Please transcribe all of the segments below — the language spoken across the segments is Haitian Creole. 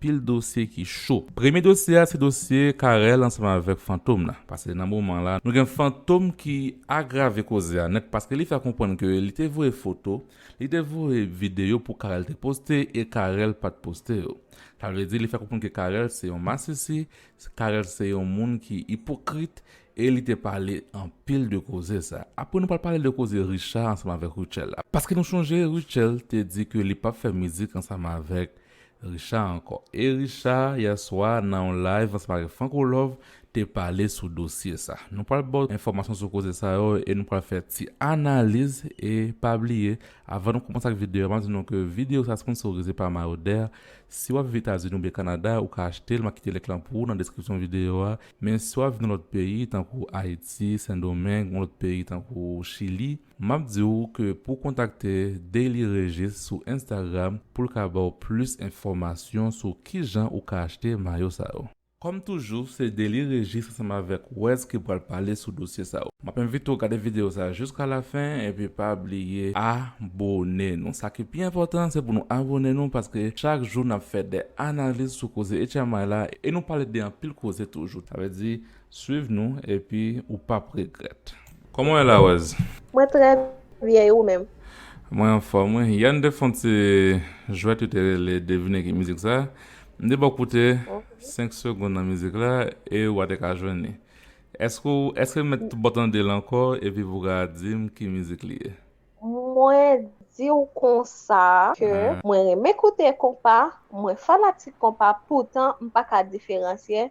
pil dosye ki cho. Premye dosye a se dosye Carel ansanm avèk Fantom nan, pase nan moman la nou gen Fantom ki agrave koze a nèt paske li fè konprann ke li te voye foto, li te voye videyo pou Carel te poste e Carel pat poste yo. Sa vle di li fè konprann ke Carel se yon masisi, Carel se yon moun ki ipokrit e li te pale anpil de koze sa. Apre nou pral pale de koze Richard ansanm avèk Rutshelle la. Paske nou chonje Rutshelle te di ke li pap fè mizik ansanm avèk Richard ankò e Richard yè swa nan yon live ansanm avèk Franco Love te pale sou dosye sa. Nou pral baw enfòmasyon sou koze sa yo e nou pral fè ti analiz e pa bliye avan nou kòmanse ak videyo a map di nou ke videyo sa sponsorize pa Mayoder si wap viv Etazini oubyen Kanada ou ka achtel map kite link lan pou ou nan deskripsyon videyo a men si wap viv nan lòt peyi tankou Ayiti, Sendomeng yon lòt peyi tankou Chili. Map di ou ke pou kontakte Daily Régis sou Instagram pou l ka ba w plis enfòmasyon sou kijan ou ka achte mayo sa yo. Kòm toujou, se Daily Régis ansanm avèk Wes ki pral pale sou dosye sa yo. Map envite w gade video sa jiska lafen epi pa bliye abone nou. Sa ki pi enpòtan se pou nou abone nou paske chak jou nap fè de analiz sou koze Ecamay la e nou pale de anpil koze toujou. Sa vle di Swiv nou epi ou pap regrèt. Kòman w ye Larose? Mwen trè byen e ou menm? Mwen anfòm wi. Yè n te fon ti jwèt yo te rele devine ki mizik sa. M te ba w koute 5 segond nan mizik la e wa te ka jwenn li. Eske w eske m mèt ba w tande l ankò epi pou ka di m ki mizik li ye? Mwen di w konsa ke mwen renmen koute konpa, mwen fanatik konpa poutan m pa ka diferansye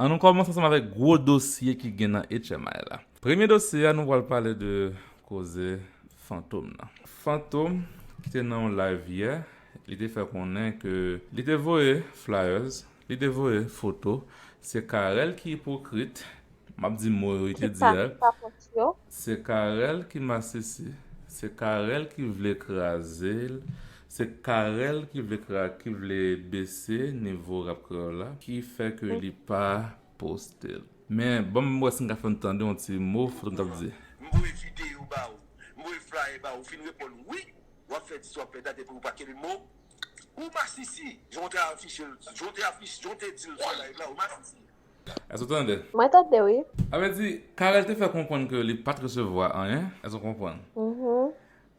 An nou kòmanse ansanm avèk gwo dosye ki gen nan HMI la. Premye dosye a nou pral pale de koze Fantom nan. Fantom ki te nan yon live yè, li te fè konnen ke li te voye flyers, li te voye foto, se Carel ki ipokrit, m ap di mo yo li te di a. Pòtoprens yo. Se Carel ki masisi, se Carel ki vle kraze l, se Carel ki vle ki vle bese nivo rap kreyòl la ki fè ke li pa poste l. Men ban m wè si m ka fè n tande yon ti mo foto m t ap di. M voye videyo ba ou, m voye flyer ba ou, ou fin reponn wi, w ap fè di sa w ap fè dat epi ou pa kenbe mo w. Ou masisi, jan w te afiche l, jan w te di l sou live la, ou masisi. Èske w tande? Mwen tande wi. Sa vle di, Carel te fè konprann ke li pa t resevwa anyen. Èske w konprann?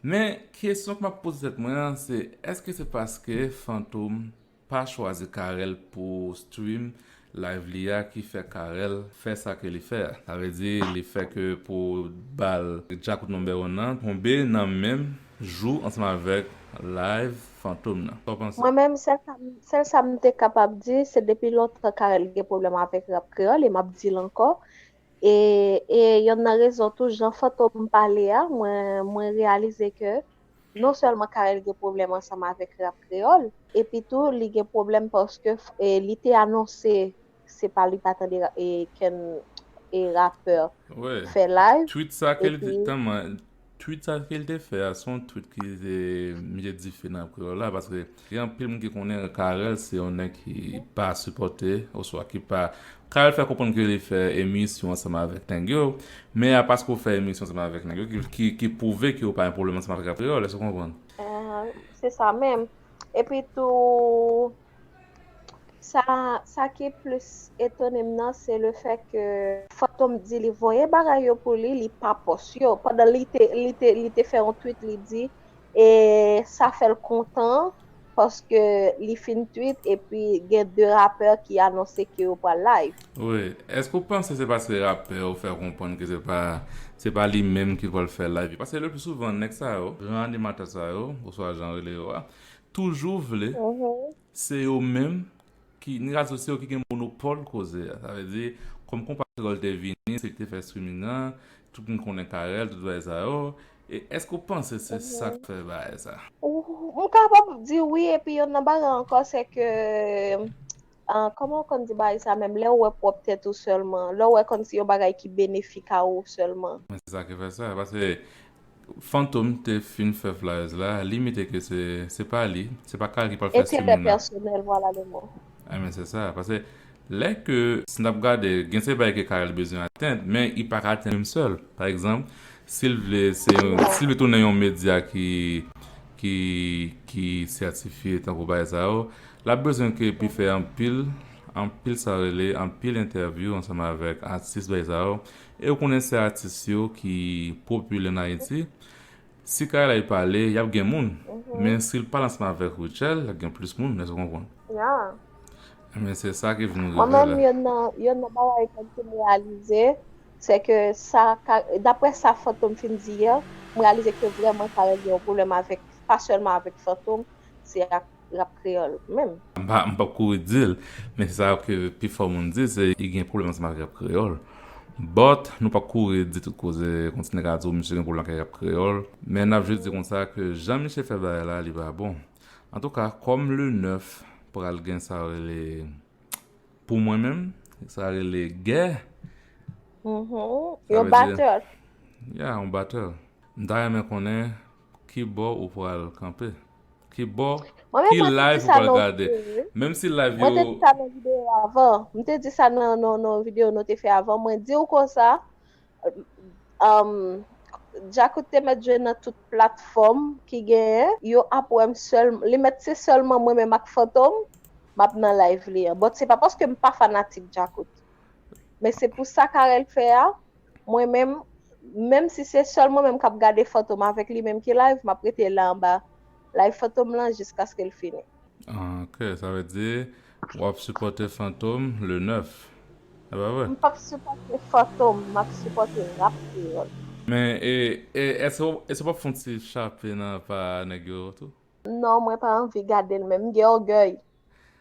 Men, kesyon ke m ap poze tèt mwen an, se èske se paske Fantom pa chwazi Carel pou stream live li a ki fè Carel fè sa ke li fè a? Sa vle di, li fè ke pou bal Djakout No. 1 an tonbe nan menm jou ansanm avèk live fantom nan. Saw panse? Mwen menm sèl sa m sèl sa m te kapab di se depi lontan Carel gen pwoblèm avèk rap kreyòl e m ap di l ankò e e yonn nan rezon tou jan Fantom pale a mwen mwen reyalize ke non sèlman Carel gen pwoblèm ansanm avèk rap kreyòl epitou li gen pwoblèm paske li te anonse se pa li pa tande ken e rapper fè live Tweet sa ke li te epi tanman Tweet sa ke li te fè a se yon tweet ki te mete dife nan kreyòl la paske gen anpil moun ki konnen Carel se yon nèg ki pa sipòte oswa ki pa Carel fè konprann ke li fè emisyon ansanm avèk nèg yo men a paske ou fè emisyon ansanm avèk nèg yo ki ki ki pwouve ke ou pa gen pwoblèm ansanm avèk rap kreyòl èske ou konprann? Ahh se sa menm epi tou Sa sa ki plis etonem nan se le fè ke Fantom di li voye bagay yo pou li, li pa pòs yo. Pandan li te li te li te fè yon tweet li di e sa fèl kontan paske li fin tweet epi gen 2 rapè ki anonse ke yo pral live. Wi, eske ou panse se paske rapè yo fè konprann ke se pa se pa li menm ki pral fè live yo? Paske le pli souvan nèg sa yo, gran animatè sa yo oswa jan rele yo a, toujou vle se yo menm ki n ka di se yo ki gen monopòl koze a sa vle di kòm konpatriyòl te vini se yo ki te fè streaming an tout moun konnen Carel tout bagay sa yo e èske ou panse se sa k fè bagay sa? M kapab di wi epi yon nan bagay ankò se ke Ahh kòman w konn di bagay sa menm lè w wè pwòp tèt ou sèlman, lè w wè kòmsi yon bagay ki benefik a ou sèlman. Men se sa ki fè sa paske Fantom te fin fè flyers la li mete ke se se pa li, se pa Kal ki pral fè streaming Enterè la. pèsonèl vwala le mo. Enben se sa paske lè ke si n ap gade gen se bagay ke Karel bezwen atenn men li pa ka atenn li menm sèl pa egzanp si l vle se yon si l vle tounen yon medya ki ki ki sètifye tankou bagay sa yo Lap bezwen ke epi fè anpil anpil sa rele anpil entèvyou ansanm avèk atis bay sa yo e ou konnen se atis yo ki popilè nan ayiti si kaylay pale yap gen moun men sil pale ansanm avèk Rutshelle yap gen plis moun èske ou konprann ebyen se sa ki vin rive la. Yonn nan bagay mwen fin reyalize se ke sa daprè sa Fantom fin di yè mwen reyalize ke vrèman Carel gen yon pwoblèm avèk pa sèlman avèk Fantom se ak rap kreyòl menm. M pa m pap kouri di l, men sa ke pi fò moun di se li gen pwoblèm ansanm ak rap kreyòl. But, nou pap kouri di tout koze kon ti nèg a di w misye gen pwoblèm ak rap kreyòl, men n ap jis di konsa ke jan misye fè bagay la li pa bon. Antouka, kòm le 9 pral gen sa yo rele, pou mwen menm, sa rele gè, sa vle di, ya yon battle, m ta renmen konnen ki bò ou pral kanpe. Ki bò? Mwen menm Ki mwen te di live ou sa pral nan gade? video yo. Menm si live Mwen te yo di sa nan video yo avan. M te di sa nan nan nan video nou te fè avan. Mwen di ou konsa, um, Djakout te mèt jwe nan tout platfòm ki genyen. Yo ap wè m sèl, li mèt se sèlman mwen menm ak Fantom m ap nan live li an. But se pa paske m pa fanatik Djakout. Men se pou sa Carel fè a, Mwen menm, menm si se sèl mwen menm k ap gade Fantom avèk li menm ki live, m ap rete la anba live Fantom lan jiskaske l fini. Ok, sa vle di w ap sipòte Fantom le 9, e pa vre? M p ap sipòte Fantom, m ap sipòte Rap Kreyòl. Men, e, e, èske w ap fè yon ti chape nan pa nèg yo tou? Non mwen pa anvi gadel menm m gen ògèy.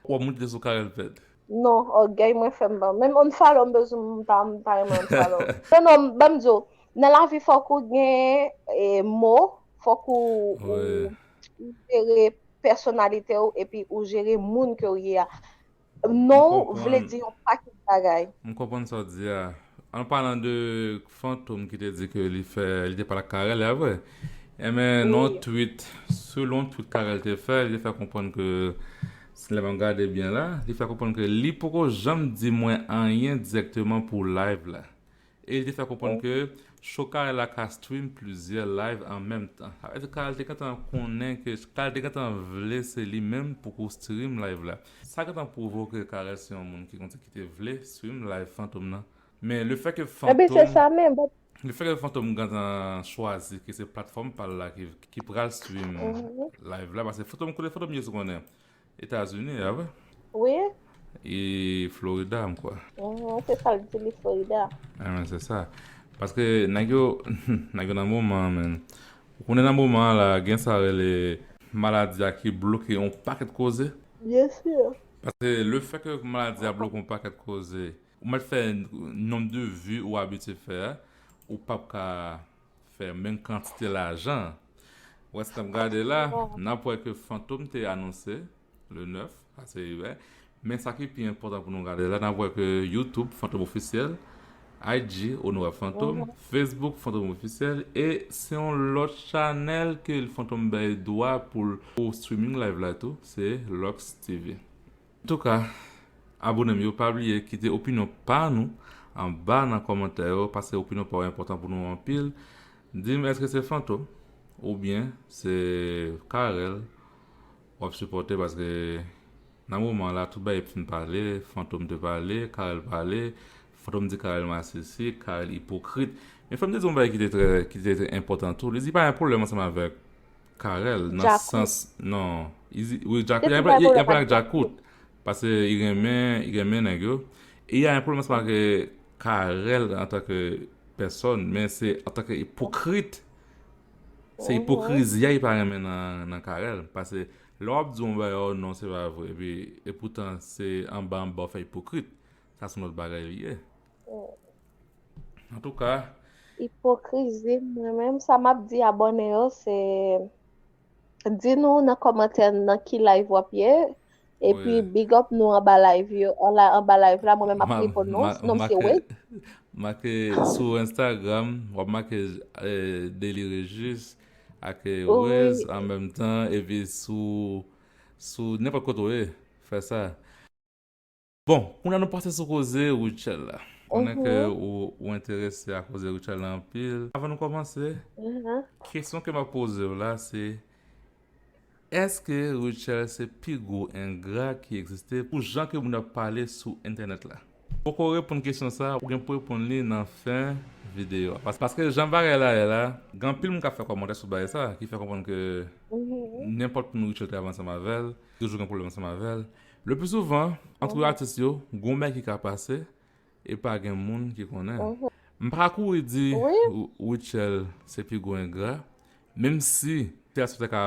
Wap moutre sou Carel pèd. Non ògèy mwen fèm pa menm unfollow m bezw m pa renmen unfollow. Non non banm diw nan lavi fòk ou gen mo fòk ou jere pèsonalitew epi ou jere moun kew ye a. Non vle di yon pakèt bagay. M konprann sa w di a. An palan de Fantom ki te di ke li fè, li te pale ak Carel, e a vre? Enben nan yon tweet, selon yon tweet Carel te fè, li te fè konprann ke, si lè m ap gade byen la, li fè konprann ke li poko janm di mwen anyen dirèkteman pou live la. E li te fè konprann ke Shokay la ka stream plizyè live an menm tan. Sa vle di Kal te gentan konnen ke Kal te gentan vle se li menm pou pou stream live la. Sa gentan pwouve w ke Carel se yon moun ki konn ki te vle stream live Fantom nan. Men le fè ke Fantom le fè ke Fantom gentan chwazi ke se platfòm pa l la ki pral stream live la paske Fantom kote Fantom ye sou konnen. Etazini a vre? Wi. E Florida m kwè. Uhmm se sa l di li Florida. Anmwee se sa. Paske nèg yo nèg yo nan moman an menn. Ou konnen nan moman an la gen sa rele. Maladi a ki bloke yon pakèt koze. Byen sûr. Paske le fè ke maladi a bloke yon pakèt koze. Ou mèt fè nomb de vues ou abitye fè a. Ou pap ka. fè menm kantite lajan an. Wes n ap gade la, n ap wè ke Fantom te anonse le 9, sa se yè, men sa ki pi enpòtan pou nou gade la, n ap wè ke YouTube Fantom Officiel, IG Onore Fantom, Facebook Fantom Officiel, e se yon lòt chanèl ke Fantom bay dwa pou l pou streaming live la tou, se Lux TV. Antouka, abone m yo pa bliye kite opinyon pa nou anba nan kòmantè yo paske opinyon pa w enpòtan pou nou anpil Di m èske se Fantom oubyen se Carel w ap sipòte paske nan moman an la tout bagay fin pale Fantom te pale, Carel pale Fantom di Carel masisi, Carel ipokrit Men fò m te di w yon bagay ki te trè ki te enpòtan tou li di pa gen pwoblèm ansanm avèk Carel nan sans non izi wi djakout yap pale ak djakout pase i renmen i renmen nèg yo e ya yon pwoblèm ansanm ak Carel antanke pèsòn men se antanke ipokrit se ipokrizi ya li pa renmen nan Carel pase lè wap di yon bagay oh non se pa vre epi epoutan se anba anba wap fè ipokrit sa son lòt bagay li ye An tou ka. Ipokrizi mwen menm sa map di abòne yo se di nou nan kòmantè nan ki live wap ye epi big up nou anba live yo la anba live la mwen menm ap repon nou nom se wade make sou instagram wap make deli rejis ak wèz an menm tan epi sou sou nenpòt kote ou ye fè sa. Bon, kounye a nou pase sou koze Rutshelle la. M konnen ke ou enterese a koze Rutshelle la anpil. Avan nou kòmanse, kesyon ke m ap poze w la se, Eske Rutshelle se pi gwo engra ki egziste pou jan ke moun ap pale sou entènèt la? Poko reponn kesyon sa, ou gen pou reponn li nan fen videyo a. Paske jan bagay la ye la, gen anpil moun k ap fè kòmantè sou bagay sa ki fè konprann ke nenpòt moun Rutshelle te avè ansanm avè l, li toujou gen pwoblèm ansanm avè l. Le plus souvan, antre atis yo, gon bgy ki ka pase, e pa gen moun ki konnen. M pa ka kouri di Rutshelle se pi gwo engra, menm si sitiyasyon ta ka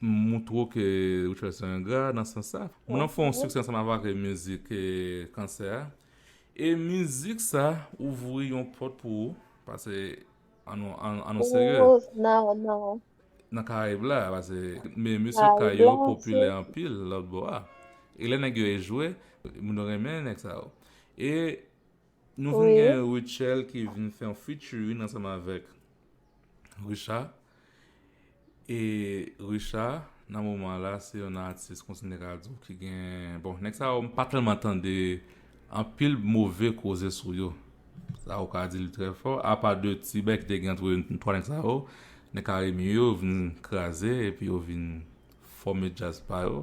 moutre w ke Rutshelle se yon engra nan sans sa. Moun nan fè yon siksè ansanm avèk mizik Kansè a, e mizik sa ouvri yon pòt pou ou, pase An nou serye. Ou ou nan ou nan ou. Nan Karayib la. Pase me mesye kay yo popilè anpil lòt bo a. E lè nèg yo e jwe. Moun yo renmen nèg sa yo. E nou vin gen Rutshelle ki vin fè yon featuring ansanm avèk Richard. E Richard nan moman la se yon nan atis kontinye ka di w ki gen, bon nèg sa yo m pa tèlman tande anpil move koze sou yo. Sa ou ka di li trè fò, apa de ti bè ki te gen antre n 3 nèg sa yo, nèg Carimi yo vin kraze epi yo vin fòme djaz pa yo.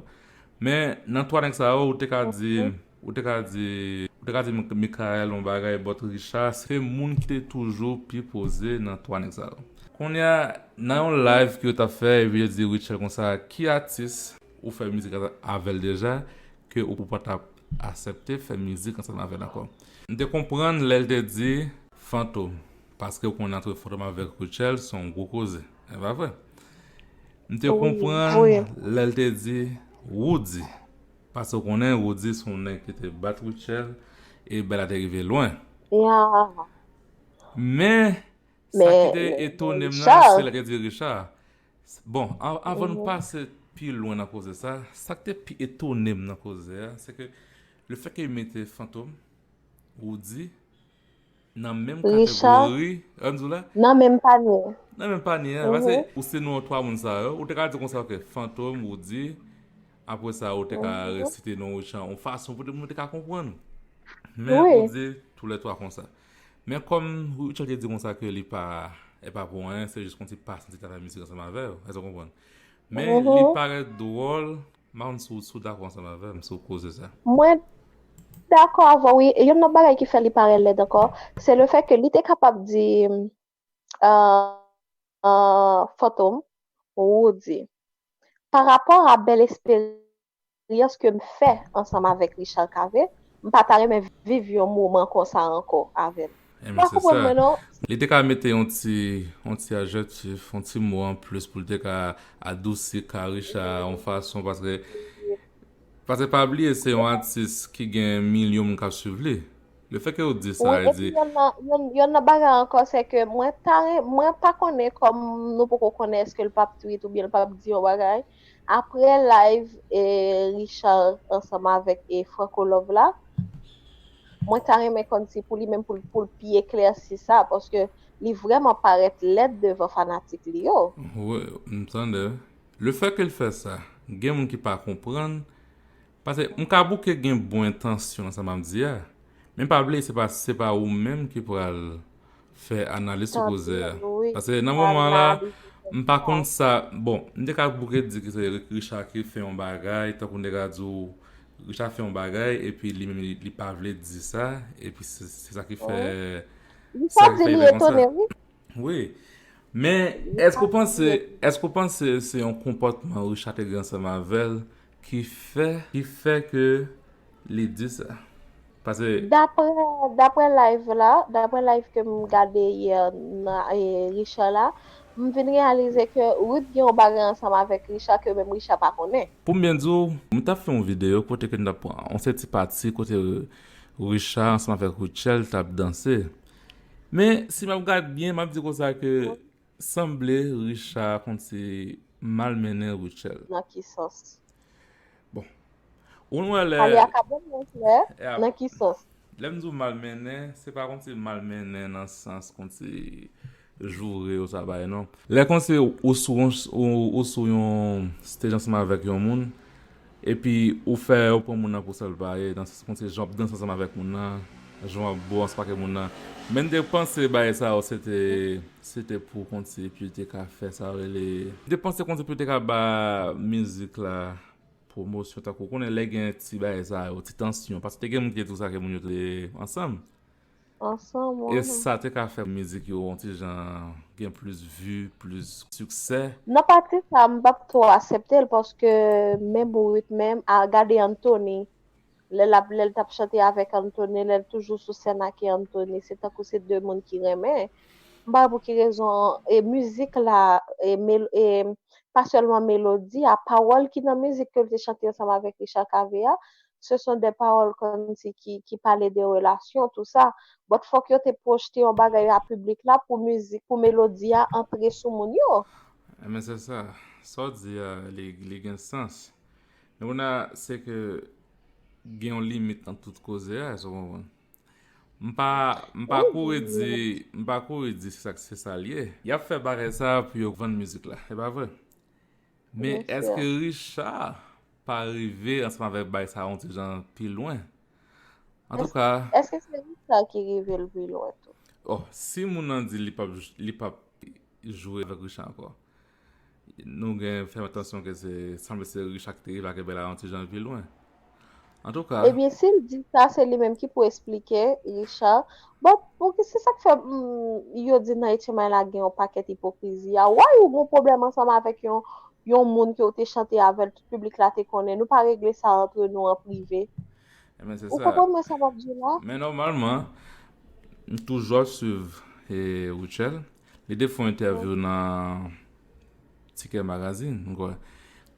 Men nan 3 nèg sa yo ou te ka di Ou te ka di, ou te ka di Mickaël yon bagay but Richard se moun ki te toujou pi poze nan 3 nèg sa yo. Kounye a, nan yon live ke yo tap fè epi yo di Rutshelle konsa, ki atis ou fè mizik avèl deja ke ou pa tap asèpte fè mizik ansanm avèl ankò? M te konprann lè l te di Fantom, paske ou konnen antre Fantom avèk Rutshelle se yon gwo koze, e pa vre? M te konprann lè l te di Roody, Pase w konnen Roody s on nèg ki te bat Rutshelle e Bella te rive lwen. Men, sa ki te etone m nan, se lè te di Richard. Bon, avan nou pase pi lwen nan koze sa, sa k te pi etone m nan koze a, se ke le fè ke yo mete Fantom, Roody, Nan menm kategori. Nan menm panye. Nan menm panye a. Pase ou se non 3 moun sa yo. Ou te ka di konsa ke Fantom, Roody. Apre sa ou te ka resite non Rochan. Ou fason pou moun te ka konpwann. Men ou di tou le 3 konsa. Men kom Rochan te di konsa ke li pa e pa pou anyen. Se jis konti pas li te ka fè misik ansanm avè yo. Ese ou konpwann. Men li pare dwol. Mans ou sou dakò ansanm avèm sou koze sa. Mwen dakò avèw wi e yon lòt bagay ki fè li parèt lèd ankò se le fè ke li te kapab di fantom Roody pa rapò a bèl esperyans ke m fè ansanm avèk Richard Cavé m pa ta renmen viv yon moman konsa ankò avèl. Mpa konprann mwen non. Li te ka mete yon ti yon ti ajèktif, yon ti mo an plis pou l te ka adousi Karichat a yon fason paske paske pa bliye se yon atis ki gen milyon moun k ap swiv li. Le fè ke ou di sa e di. Epi yon lòt bagay ankò se ke mwen ta renmen mwen pa konnen kòm nou poko konnen eske l pap tweet oubyen l pap di yon bagay. Aprè live Richard ansanm avèk Franco love la mwen ta renmen konn si pou li menm pou l pi eklèsi sa paske li vrèman parèt lèd devan fanatik li yo. Wi m tande. Le fè ke l fè sa gen moun ki pa konprann Pase m ka bouke gen bon entansyon nan sa m ap di a, men pa bliye se pa se pa ou menm ki pral fè analiz sou koze a. Pase nan moman an la, m pa konn sa, bon, m te ka bouke di ke se Richard ki fè yon bagay, tankou m te ka di w Richard fè yon bagay epi li menm li pa vle di sa, epi se sa ki fè, se sa ki fè li fè konsa. Wi. Men, èske ou panse, èske ou panse se yon konpòtman Richard te gen ansanm avè l Ki fè, ki fè ke li di sa? Pase. Daprè, daprè live la, daprè live ke m gade yè nan Richard la, m vin reyalize ke Ruth gen yon bagay ansanm avèk Richard ke menm Richard pa konnen. Pou m byen di w, m t ap fè yon videyo kote ke n t ap pran yon sèti pati kote Richard ansanm avèk Rutshelle t ap danse. Men, si m ap gad byen, m ap di konsa ke Sanble Richard konn se mal mennen Rutshelle. Nan ki sans? Bon. Ou konn wè lè. Pale ak a bon moun klè, nan ki sans? Lè m di w mal mennen, se pa konn se mal mennen nan sans konn se joure ou sa bagay non. Lè konn se ou sou yon ou sou yon stage ansanm avèk yon moun, Epi ou fè ou pran moun nan pou sal pa ye nan sans konte jan wap danse ansanm avèk moun nan jan wap bo ansanm ake moun nan men mte panse bagay sa yo sete sete pou konte epiw te ka fè sa yo rele mte panse konte pou te ka ba mizik la pwomosyon tankou ou konnen lè gen ti bagay sa yo ti tansyon paske te gen moun ki te di ou sa ke moun yo te ansanm. ansanm wi. Esa te ka fè mizik yo yon ti jan gen plis vi plis siksè. Nan pati sa m pap two aseptel paske men bourik menm a gade Anthony lè lap lèl tap chante avèk Anthony lèl toujou sou sèn ake Anthony se tankou se 2 moun ki renmen m pa wè pou ki rezon e mizik la e e pa sèlman melodi a pawòl ki nan mizik ke l te chante ansanm avèk Richard Cavé a ce sont des paroles kòmsi ki ki pale de relasyon tou sa, but fòk yo te pwojte yon bagay a piblik la pou mizik pou melodi a antre sou moun yo. Ebyen se sa, sa w di a li li gen sans. Men kounye a se ke gen yon limit nan tout koze a, èske w konprann? M pa m pa kouri di m pa kouri di se sa se sa l ye. Y ap fè bagay sa pou yo vann mizik la, e pa vre? Men eske Richard pa rive ansanm avèk bay sa yon ti jan pi lwen? Antouka. Eske se Richard ki rive l pi lwen tou? Oh, si moun nan di li pap jwe avèk Richard ankò. Nou gen fè atansyon ke se sanble se Richard ki te rive avèk Bella yon ti jan pi lwen. Antouka. Ebyen sil di sa se li menm ki pou esplike Richard bon pouki se sak fè m yo di nan etchenmay la gen yon pakèt ipokrizi a wayy ou gon pwoblèm ansanm avèk yon yon moun ke ou te chante avèl tout piblik la te konnen nou pa regle sa antre nou an prive Ebyen se ou sa konprann mwen sa map di la. Men nòmalman m toujò swiv e Rutshelle li te fon entèvyou nan Tikè Magazine m kwè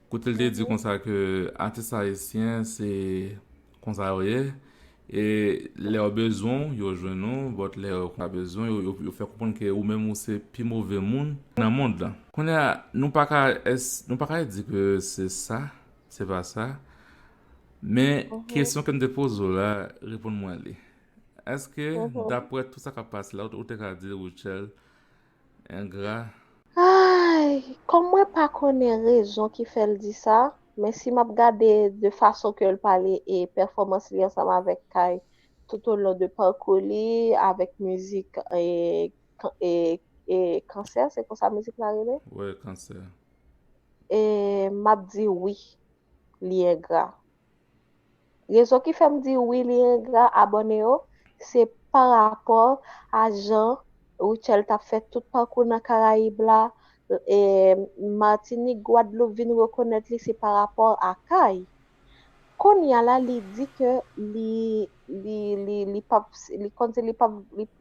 Kote l te di konsa ke atis ayisyen se konsa yo ye e lè yo bezwen w yo jwenn ou bòt lè yo pa bezwen w yo fè konprann ke ou menm ou se pi move moun nan mond lan. Kounye a nou pa ka nou pa ka di ke se sa se pa sa men kesyon ke m te poze w la reponn mwen li èske daprè tout sa k ap pase la ou te ka di Rutshelle Engra. Ayy kòm mwen pa konnen rezon ki fèl di sa men si map gade de fason ke'l pale e pèfòmans li ansanm avèk Kay tout o lon de parkou li avèk mizik e kansè se konsa mizik la rele? Wi kansè. E map di wi li engra. Rezon ki fèm di wi li engra abòne yo se pa rapò a jan Rutshelle tap fè tout pakou nan karayib la e Martinique Guadeloupe vin rekonèt li se pa rapò a kay konnya la li di ke li li li li pap li konn li pap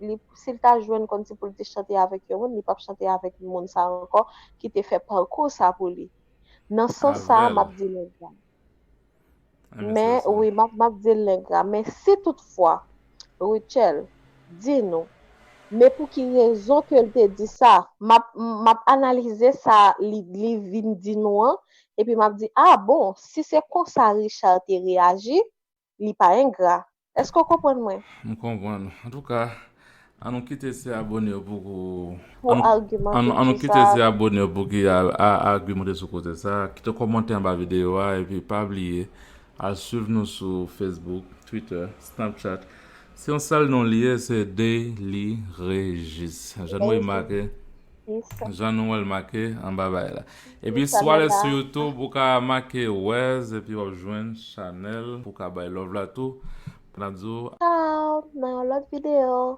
li sil ta jwenn konn si poul te chante avèk yon moun li pap chante avèk moun sa ankò ki te fè pakou sa pou li nan sans sa map di li engra. Men wi map dil neg la men si tout fwa Rutshelle di nou men pou ki rezon ke l te di sa map analize sa li vin di nou an epi map di a bon si se konsa Richard te reyaji li pa engra, eske w konprann mwen? M konprann ou. Antouka, an nou kite se abone yo pou ki. Pou agimente sou sa. An nou kite se abone yo pou ki agimente sou koze sa. Kite komante anba videyo a epi pa bliye al swiv nou sou Facebook, Twitter, Snapchat. Se yon sèl non li ye, se Deliregis. Jan nou remake. Jistis. Jan nou wè l make anba bay la. Epi si w ale sou youtube ou ka make wèz epi w ap jwenn chanèl pou w ka bay love la tou. N ap di w. Chao nan yon lòt videyo.